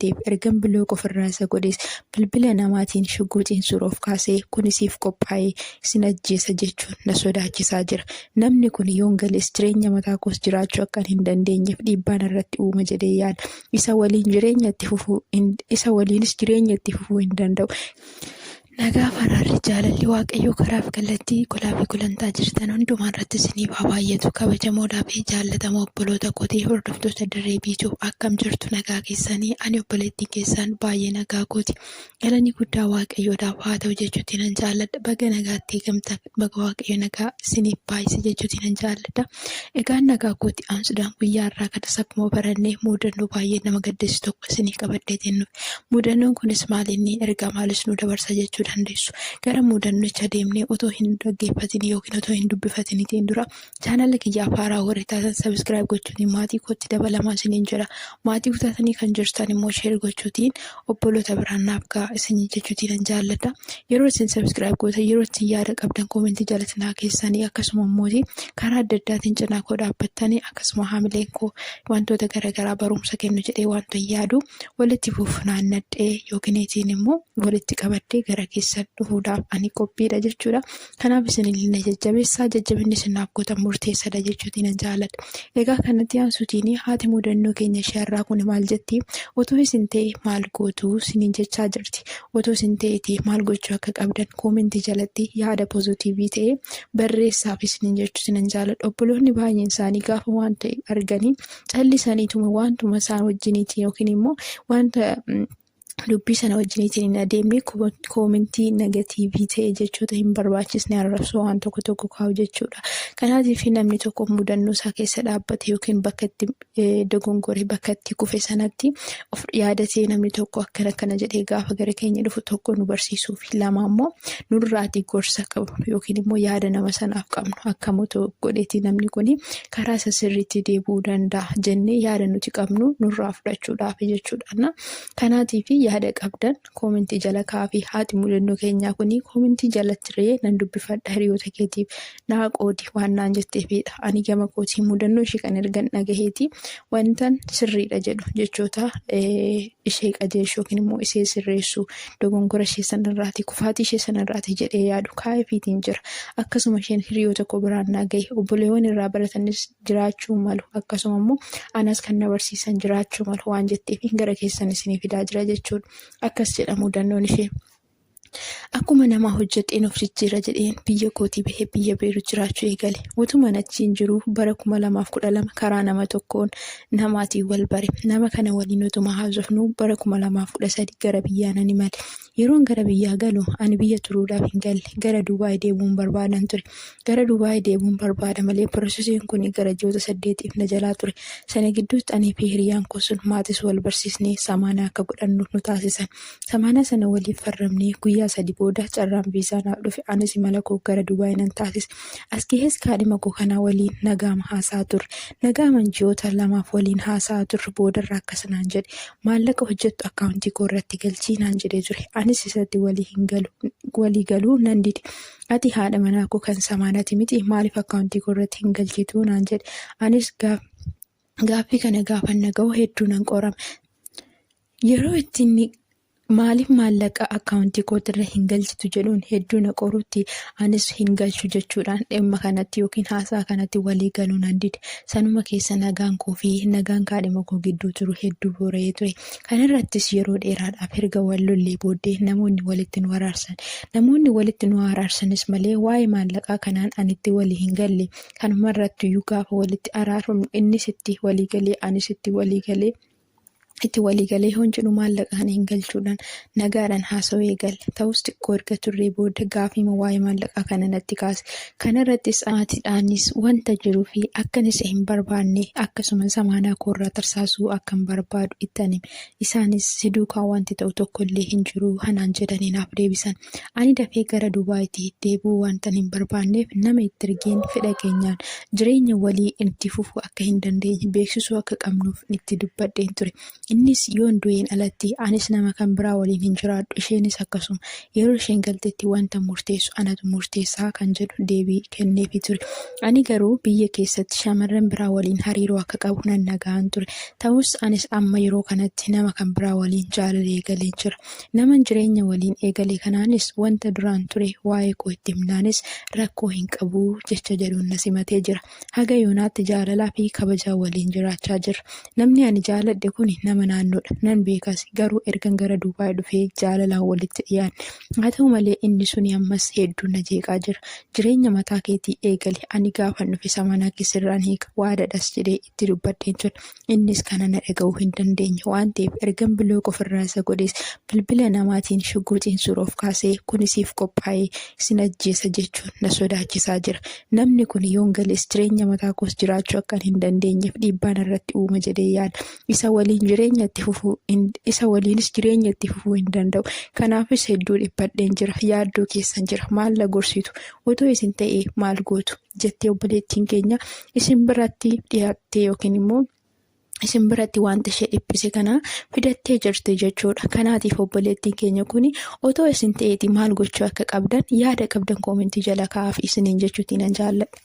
deebi ergan bilook ofirraa isa godhees bilbila namaatiin shugguuxiin suuroof kaasee kuni siif qophaa'ee isin ajjeesa jechuun na sodaachisaa jira. Namni kun yoon galees jireenya mataa koos jiraachuu akkan hin dandeenyeef dhiibbaan irratti uuma jedhee yaada. Isa waliin jireenya itti fufuu isa waliinis jireenya itti fufuu hin danda'u. Nagaa fi araarri jaalalli waaqayyoo karaa fi kallattii golaa fi gulantaa jirtan hundumaa irratti isiniif haa baay'atu kabajamoodhaa fi jaallatamoo obboloota kootii hordoftoota dirree biituu akkam jirtu nagaa keessanii ani obboleettiin keessaan baay'ee nagaa kooti galanii guddaa waaqayyoodhaaf haa ta'u jechuutti nan jaalladha baga nagaatti eegamtan Baga Waaqayyo nagaa isiniif baay'ise jechuutiin nan jaalladha. Egaa nagaa kooti aansuudhaan guyyaa har'aa kanas akkuma barannee muudannoo baay'ee nama gaddisiisu tokko isiniif qabadheetiin dhufe. Muudannoon kunis maal inni ergaa maalis nu dabarsa jechuu dandeessu. Gara muudannicha deemnee otoo hin dhaggeeffatin yookiin otoo hin dubbifatinitiin dura Chaanala kiyyaaf haaraa warri taatan sabiskiraayib gochuutiin maatii kootti dabalamaa isiniin jira. Maatii kutaatanii kan jirtan immoo sheer gochuutiin obboloota biraan naaf ga'a isinii jechuutiin nan jaalladha. Yeroo isin sabiskiraayib gootan yeroo isin yaada qabdan koomentii jalatti naa keessanii akkasuma immoo karaa adda addaatiin cinaa koo dhaabbattanii akkasuma haamileen koo wantoota garaagaraa barumsa kennu jedhee wanta yaadu walitti fuufunaan nadhee yookiin itiin immoo walitti qabadhee gara keessan dhufuudhaaf ani qophiidha jechuudha. Kanaaf isinillee na jajjabeessaa jajjabinni isin naaf gootan murteessadha jechuutiin nan jaaladha. Egaa kanatti aansuutiin haati mudannoo keenya ishee har'aa kun maal jetti? Otoo isin ta'e maal gootu isiniin jechaa jirti. Otoo isin ta'eeti maal gochuu akka qabdan koomentii jalatti yaada pozitiivii ta'e barreessaaf isiniin jechuutiin nan jaaladha. Obboloonni baay'een isaanii gaafa waan ta'e arganii callisaniituma waantuma isaan wajjiniitiin yookiin immoo wanta dubbii sana wajjiniitiin hin adeemne koomentii negatiivii ta'e jechoota hin barbaachisne arrabsoo waan tokko tokko kaa'u jechuudha. Kanaatiif namni tokko mudannoo isaa keessa dhaabbate yookiin bakka itti dogongore bakka itti kufe sanatti of yaadatee namni tokko akkana akkana jedhee gaafa gara keenya dhufu tokko nu barsiisuu fi lama immoo nurraatii gorsa qabnu yookiin immoo yaada nama sanaaf qabnu akka moto godheetii namni kun karaa isa sirriitti deebi'uu danda'a jennee yaada nuti qabnu nurraa fudhachuudhaaf jechuudhaana. Kanaatiif yaada qabdan koomentii jala kaa'aafii haati mudannoo keenyaa kun koomentii jalatti ree nan dubbifadha hiriyoota keetiif naa qoodi waan naan jetteefiidha. Ani gama kootii mudannoo ishee kan ergan dhagaheeti wantan sirriidha jedhu jechoota ishee qajeelchu yookiin immoo ishee sirreessu dogongora ishee sanarraati, kufaatii ishee sanarraati jedhee yaadu kaa'eefiitiin jira. Akkasuma isheen hiriyoota koo biraan naa gahe. Obboleewwan irraa baratanis jiraachuu malu. Akkasuma immoo anas kan na barsiisan jiraachuu malu waan jetteefiin gara keessan isinii fidaa jira jechuun akkas jedha mudannoon ishee. Akkuma namaa hojjedheen of jijjiira jedheen biyya kootii bahee biyya Beerut jiraachuu eegale. Utuman achiin jiruu bara 2012 karaa nama tokkoon namaatiin wal bare. Nama kana waliin utuma haasofnu bara 2013 gara biyyaa nan imale. Yeroon gara biyyaa galu ani biyya turuudhaaf hin galle. Gara Dubaay deemuun barbaadan ture. Gara Dubaay deemuun barbaada malee piroosesiin kun gara ji'oota saddeetiif na jalaa ture. Sana gidduutti anii fi hiriyaan koo sun maatis wal barsiisnee samaanaa akka godhannu nu taasisan. Samaanaa sana waliin farramnee guyyaa sadi booda carraan viizaa naaf dhufe. Anis imala koo gara Dubaay nan taasise. As gahees kaadhima koo kana waliin nagaama haasa'aa turre. Nagaaman ji'oota lamaaf waliin haasa'aa turre boodarra akkas naan jedhe. Maallaqa hojjettu akkaawuntii koo irratti galchii naan jedhee ture. Anis isatti walii hin galu walii galuu nan dide. Ati haadha manaa koo kan samaanati miti maaliif akkaawuntii koo irratti hin galchituu naan jedhe. Anis gaaf gaaffii kana gaafan naga'u hedduu nan qorame. Yeroo itti inni Maaliif maallaqa akkaawuntii kootirra hin galchitu jedhuun hedduu na qorutti anis hin galchu jechuudhaan dhimma kanatti yookiin haasaa kanatti walii galuu nan dide. Sanuma keessa nagaan koo fi nagaan kaadhima koo gidduu jiru hedduu boora'ee ture. Kanarrattis yeroo dheeraadhaaf erga wal lollee booddee namoonni walitti nu araarsan. Namoonni walitti nu haa araarsanis malee waa'ee maallaqaa kanaan ani itti walii hin galle. Kanumarrattuyyuu gaafa walitti araarfamnu innis itti walii galee anis itti walii galee. itti walii galee yoon jedhu maallaqa kana hin galchuudhaan nagaadhaan haasawee gale. Ta'us xiqqoo erga turree booda gaafiima waa'ee maallaqaa kana natti kaase. Kanarrattis maatiidhaanis wanta jiruu fi akkan isa hin barbaanne akkasumas amaanaa koorraa tarsaasuu akkan barbaadu ittan hime. Isaanis si duukaa wanti ta'u tokkollee hin jiru hanaan jedhanii naaf deebisan. Ani dafee gara Dubaayitti deebi'uu waantan hin barbaanneef nama itti ergeen fedha keenyaan jireenya walii itti fufuu akka hin dandeenye beeksisuu akka qabnuuf itti dubbadheen ture. Innis yoon du'een alatti anis nama kan biraa waliin hin jiraadhu isheenis akkasuma yeroo isheen galtetti wanta murteessu anatu murteessaa kan jedhu deebii kenneefi ture. Ani garuu biyya keessatti shamarran biraa waliin hariiroo akka qabu nan dhaga'an ture. Ta'us anis amma yeroo kanatti nama kan biraa waliin jaalala eegaleen jira. Naman jireenya waliin eegale kanaanis wanta duraan ture waa'ee koo itti himnaanis rakkoo hin qabu jecha jedhuun na simatee jira. Haga yoonaatti jaalalaa fi kabajaa waliin jiraachaa jirra. Namni ani jaaladhe kun nama naannoodha. Nan beekas. Garuu ergan gara Duubaay dhufee jaalalaan walitti dhiyaanne. Haa ta'u malee inni suni ammas hedduu na jeeqaa jira. Jireenya mataa keetii eegali. Ani gaafan dhufe samanaa kee sirraan hiika. Waadadhas jedhee itti dubbadheen ture. Innis kana na dhaga'uu hin dandeenye waan ta'eef ergan bilook ofirraa isa godhees bilbila namaatiin shugguuxiin suuroof kaasee kun isiif qophaa'ee isin ajjeesa jechuun na sodaachisaa jira. Namni kun yoon galees jireenya mataa koos jiraachuu akkan hin dandeenyeef dhiibbaa narratti uuma jedhee yaada. Isa waliin jireenya itti fufuu isa waliinis jireenya itti fufuu hin danda'u. Kanaafis hedduu dhiphadheen jira. Yaaddoo keessan jira. Maal na gorsitu? Otoo isin ta'ee maal gootu? jettee obboleettiin keenya isin biratti dhiyaattee yookiin immoo isin biratti wanta ishee dhiphise kana fidattee jirti jechuudha. Kanaatiif obboleettiin keenya kun otoo isin ta'eeti maal gochuu akka qabdan yaada qabdan koomentii jala kaa'aaf isiniin jechuutti nan jaalladha.